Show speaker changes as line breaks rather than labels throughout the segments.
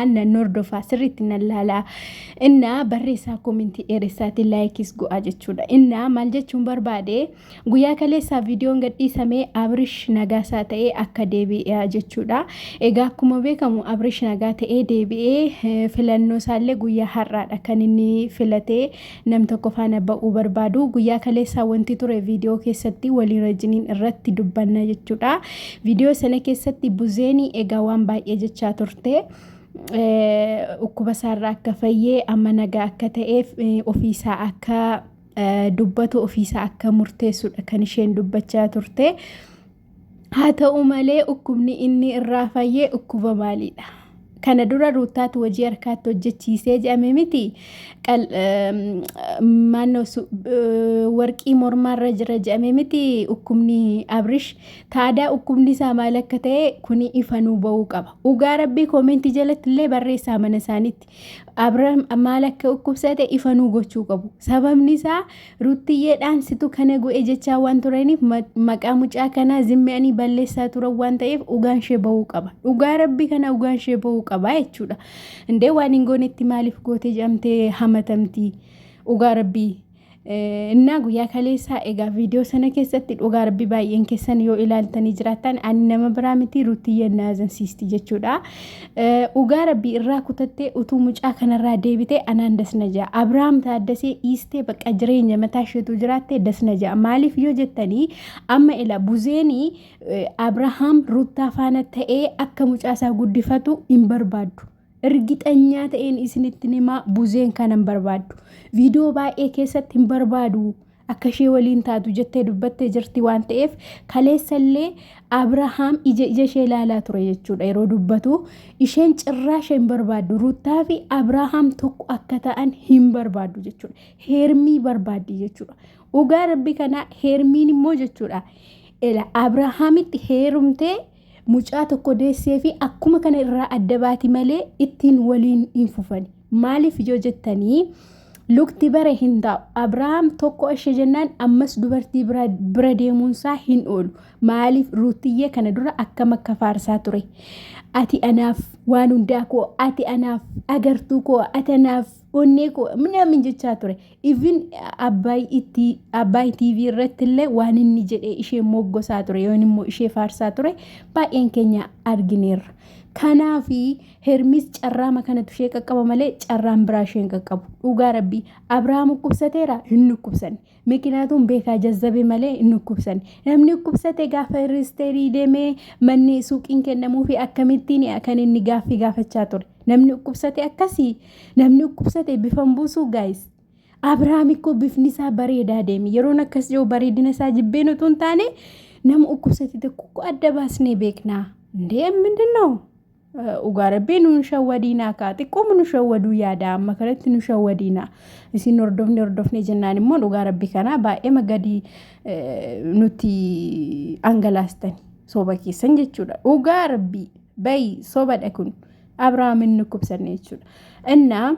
an nan hordofaa sirriitti nan laalaa innaa barreessaa koomentii dheeressaati laayikis go'aa jechuudha innaa maal jechuun barbaade guyyaa kaleessaa viidiyoon gadhiisamee abrish nagaasaa ta'ee akka deebi'ee jechuudha egaa akkuma beekamu abrish nagaa ta'ee deebi'ee filannoo isaallee guyyaa har'aadha kan inni filatee Nam tokko faana ba'uu barbaadu. Guyyaa kaleessaa wanti ture viidiyoo keessatti waliin rajiniin irratti dubbanna jechuudha. Viidiyoo sana keessatti buzeeni egaa waan baay'ee jechaa turte. Dhukkuba isaarraa akka fayyee amma nagaa akka ta'eef ofiisaa akka dubbatu ofiisaa akka murteessudha kan isheen dubbachaa turte. Haa ta'u malee dhukkubni inni irraa fayye dhukkuba maaliidha? Kana dura Ruuttaatu hojii harkaatti hojjechiisee jedhame miti. Maannoo warqii mormaarra jira jedhame miti dhukkubni Abrish. Taadaa dhukkubni isaa maal akka ta'e kuni ifanuu ba'uu qaba. Dhugaa rabbii koomentii jalatti illee barreessaa mana isaaniitti. Abram maal akka dhukkubsate ifanuu gochuu qabu. Sababni isaa Ruttiyyeedhaan situ kana go'e jechaa waan turaniif maqaa mucaa kanaa zimmi'anii balleessaa turan waan ta'eef dhugaan ishee ba'uu qaba. Dhugaa rabbii kana dhugaan ishee ba'uu qaba jechuudha. Indee waan hin goonetti maaliif goote jedhamtee hamatamti dhugaa rabbii. Innaa guyyaa kaleessaa egaa viidiyoo sana keessatti dhugaa rabbi baay'een keessan yoo ilaaltanii jiraattan ani nama biraa miti ruttiyye naazansiisti jechuudha. Dhugaa rabbii irraa kutattee utuu mucaa kanarraa deebitee anaan dasna ja'a. Abiraam taaddasee dhiistee bakka jireenya mataa isheetu jiraattee dasna ja'a. Maaliif yoo jettanii amma ila buzeenii Abirahaam ruttaa faana ta'ee akka mucaa isaa guddifatu hin barbaaddu. Irgixanyaa ta'een isinitti himaa buzeen kana hin barbaaddu. Viidiyoo baay'ee keessatti hin barbaadu. akka ishee waliin taatu jettee dubbattee jirti waan ta'eef kaleessallee Abrahaam ija ija ishee ilaalaa ture jechuudha yeroo dubbatu isheen cirraa ishee hin barbaaddu Ruuttaa fi Abrahaam tokko akka ta'an hin barbaaddu jechuudha heermii barbaaddi jechuudha dhugaa rabbi kanaa heermiin immoo jechuudha ila Abrahaamitti heerumtee mucaa tokko deessee fi akkuma kana irraa adda baati malee ittiin waliin hin fufani. Maaliif yoo jettanii lukti bare hin taa'u. Abrahaam tokko ishee jennaan ammas dubartii bira deemuunsaa hin oolu. Maaliif ruutiyyee kana dura akkam akka faarsaa ture. Ati anaaf waan hundaa koo, ati anaaf agartuu koo, ati anaaf onnee koo minaamin jechaa ture. Even Abbaay TV irratti illee waan inni jedhee ishee moggosaa ture yoon immoo ishee faarsaa ture baay'een keenya argineerra. Kanaafi Hermis carraama kanatu ishee qaqqaba malee carraan biraa ishee hin qaqqabu. Dhugaa rabbii Abrahaam dhukkubsateera hin dhukkubsanne. Mikinaatuun beekaa jazzabe malee hin dhukkubsanne. Namni dhukkubsate gaafa riisteerii deemee manni suuqiin kennamuu fi akkamittiin kan inni gaaffii gaafachaa ture. Namni dhukkubsate akkasii namni dhukkubsate bifan buusuu gaayis. Abrahaam ikkoo bifni isaa bareedaa deeme. Yeroon akkas jiru bareedina isaa jibbeen utuu hin taane nama dhukkubsate tokko adda baasnee beeknaa. Ndee mindin noo? Dhugaa rabbii nu hin shawwadiinaa kaa xiqqooma nu shawwaduu yaada amma kanatti nu shawwadiinaa isin hordofne hordofne jennaan immoo dhugaa rabbii kanaa baay'eema gadi nutti angalaastani soba keessan jechuudha dhugaa rabbii bayi sobadha kun abraamin nu kubsanne jechuudha innaa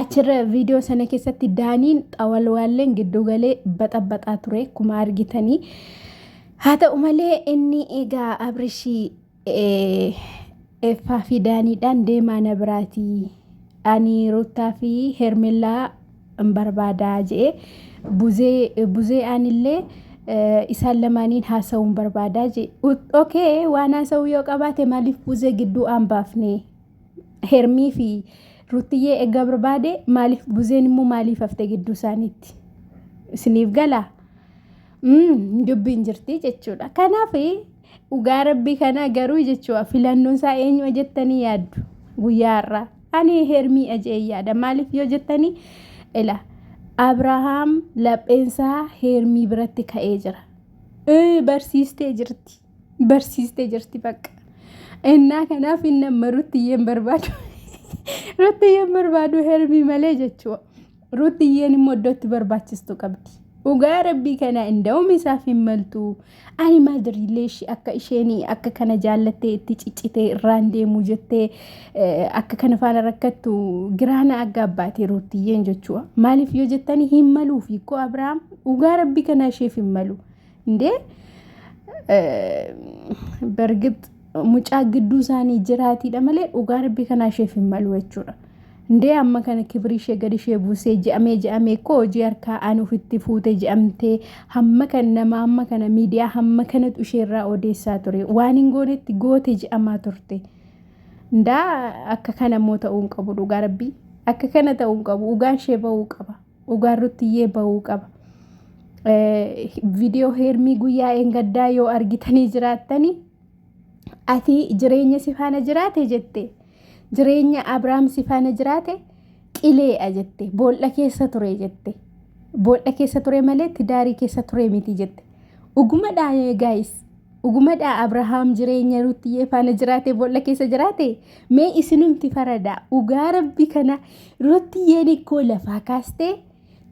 achirra viidiyoo sana keessatti daaniin xawalwaalleen gidduu galee baxabaxaa ture akkuma argitanii haa ta'u malee inni egaa abrishii Effaa fi daaniidhaan deemaa na biraatii ani ruttaa fi hermellaa hin barbaadaa je'e buzee buzee aanillee isaan lamaaniin haasa'uu hin barbaadaa je'e okay waan haasa'uu yoo qabaate maaliif buzee gidduu aan baafne hermii fi ruttiyyee egga barbaade maaliif buzeen immoo maaliif hafte gidduu isaaniitti isiniif galaa dubbiin jirti jechuudha kanaaf Dhugaa rabbii kanaa garuu jechuudha filannoon isaa eenyuma jettanii yaaddu guyyaa har'aa. Ani hermii ajee yaada maaliif yoo jettanii ila Abrahaam lapheensaa hermii biratti ka'ee jira. Ee, Barsiistee jirti. Barsiistee jirti bakka. Innaa kanaaf inni amma ruttiyyeen barbaadu. Ruttiyyeen barbaadu hermii malee jechuudha. Ruutiyyeen immoo iddoo itti barbaachistu qabdi. Dhugaa rabbii kana inda'uum isaaf hin maltu. Ani maal diriillee ishee akka isheen akka kana jaallattee itti ciccitee irraan deemuu jettee akka kana faana rakkattu giraana aggaa baatee ruutiyyeen jechuudha. Maaliif yoo jettani hin maluuf hiikoo Abiraam dhugaa rabbii kana isheef hin malu. እንዴ በእርግጥ mucaa gidduu isaanii jiraatiidha malee dhugaa rabbii kanaa isheef hin malu jechuudha. Ndee amma kana kibrii ishee gadi ishee buusee je'amee je'amee koo hojii harkaa aan ofitti fuute je'amtee hamma kan nama amma kana miidiyaa hamma kanatu ishee irraa odeessaa ture waan hin goonetti goote je'amaa turte. Ndaa akka kana immoo ta'uu hin qabu dhugaa rabbii akka kana ta'uu hin qabu dhugaan ishee ba'uu qaba. Dhugaan ruttiyyee ba'uu qaba. Viidiyoo heermii guyyaa eengaddaa yoo argitanii jiraattanii ati jireenya si faana jiraate jette jireenya Abrahaam si faana jiraate qileedha jette bool'a keessa ture jette bool'a keessa ture malee tidaarii keessa ture miti jette dhugumadha gaayis Dhugumadhaa Abrahaam jireenya Ruuttiyee faana jiraate boolla keessa jiraate mee isinumti faradaa dhugaa rabbi kana Ruuttiyeen ikkoo lafaa kaastee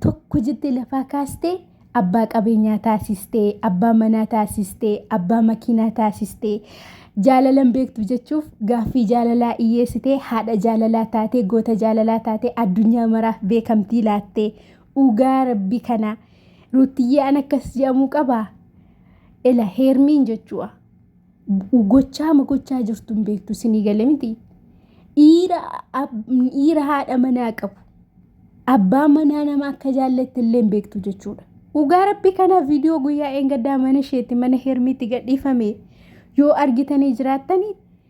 tokko jettee lafaa kaastee abbaa qabeenyaa taasistee abbaa manaa taasistee abbaa makiinaa taasistee jaalalan beektu jechuuf gaaffii jaalalaa iyyeessitee haadha jaalalaa taatee goota jaalalaa taatee addunyaa maraaf beekamtii laattee dhugaa rabbi kana Ruuttiyyee an akkas jedhamuu qabaa. Ela heermiin jechuudha. Gochaa ma gochaa jirtu hin beektu sinii gale miti. Dhiira ab- dhiira haadha manaa qabu. Abbaa manaa nama akka jaallatte illee hin beektu jechuudha. Dhugaa rabbi kana viidiyoo guyyaa eengaddaa mana isheetti mana heermiitti gadhiifame yoo argitanii jiraattanii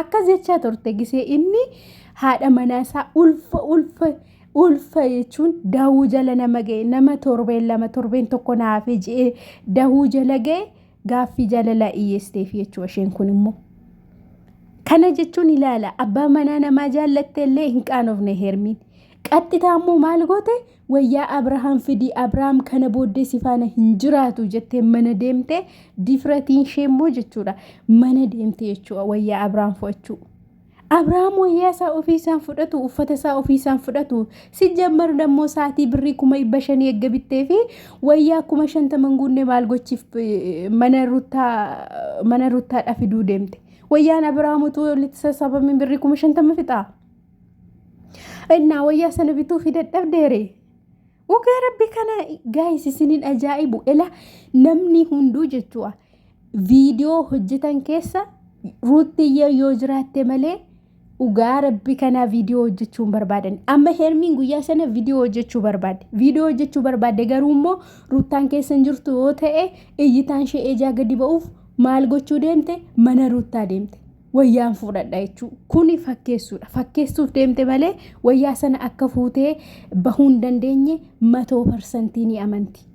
Akkas jechaa turte gisee inni haadha manaa isaa ulfa ulfa ulfa jechuun dahuu jala nama ga'e nama torbeen lama torbeen tokko naafee je'ee dahuu jala ga'e gaaffii jaalalaa iyyeesteef jechuudha isheen kun immoo. Kana jechuun ilaala abbaa manaa namaa jaallatte illee hin qaanofne hermiin. Qaxxitaa immoo maal goote Wayyaa Abrahaam fidi Abrahaam kana booddee si faana hin jiraatu jettee mana deemtee difratiin ishee immoo jechuudha mana deemte jechuudha wayyaa Abrahaam fudhachuu. Abrahaam wayyaa isaa ofii isaan fudhatu uffata isaa ofii isaan fudhatu si jammaru dammoo saatii birrii kuma dhibba shanii eegga bittee fi wayyaa kuma shantaman guunnee maal gochiif eh, mana ruttaa mana ruttaadha fiduu deemte. Wayyaan Abrahaam utuu walitti sassaabamiin birrii kuma shantama fixaa. Innaa wayyaa sana bituu fi dadhabdeere. Dhugaa rabbi kana gaayis isiniin ajaa'ibu ela namni hunduu jechuudha. Viidiyoo hojjetan keessa ruuttiyyee yoo jiraatte malee dhugaa rabbi kanaa viidiyoo hojjechuu hin barbaadan. Amma hermiin guyyaa sana viidiyoo hojjechuu barbaadde. Viidiyoo hojjechuu barbaadde garuu immoo ruuttaan keessa hin jirtu yoo ta'e iyyitaan ishee ejaa gadi ba'uuf maal gochuu deemte mana ruuttaa deemte. wayyaan fuudhadha jechuu kuni fakkeessuudha fakkeessuuf deemte malee wayyaa sana akka fuutee bahuu hin dandeenye matoo parsantii ni amanti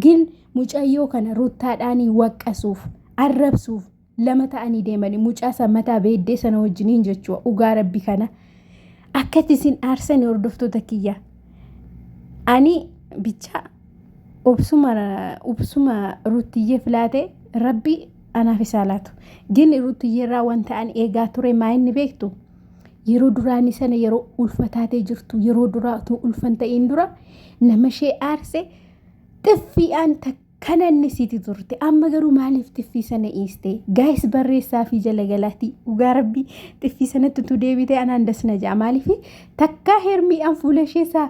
gin mucayyoo kana ruttaadhaanii waqqasuuf arrabsuuf lama ta'anii deemani mucaa san mataa beeddee sana wajjiniin jechuudha dhugaa rabbi kana akkatti isin aarsani hordoftoota kiyya ani bichaa obsuma obsuma ruttiyyeef laate rabbi Anaaf isaa laatu. Gin Ruutiyyeerraa wanta an eegaa ture maa inni beektu? Yeroo duraanii sana yeroo ulfa taatee jirtu yeroo duraa utuu ulfan ta'iin dura nama ishee aarse xiffiidhaan takkana inni siiti turte. Amma garuu maaliif xiffii sana iiste? Gaayis barreessaa fi jalagalaatii dhugaa rabbii xiffii sanatti utuu deebitee anaan das na ja'a. Maaliif takkaa hermiidhaan fuula ishee isaa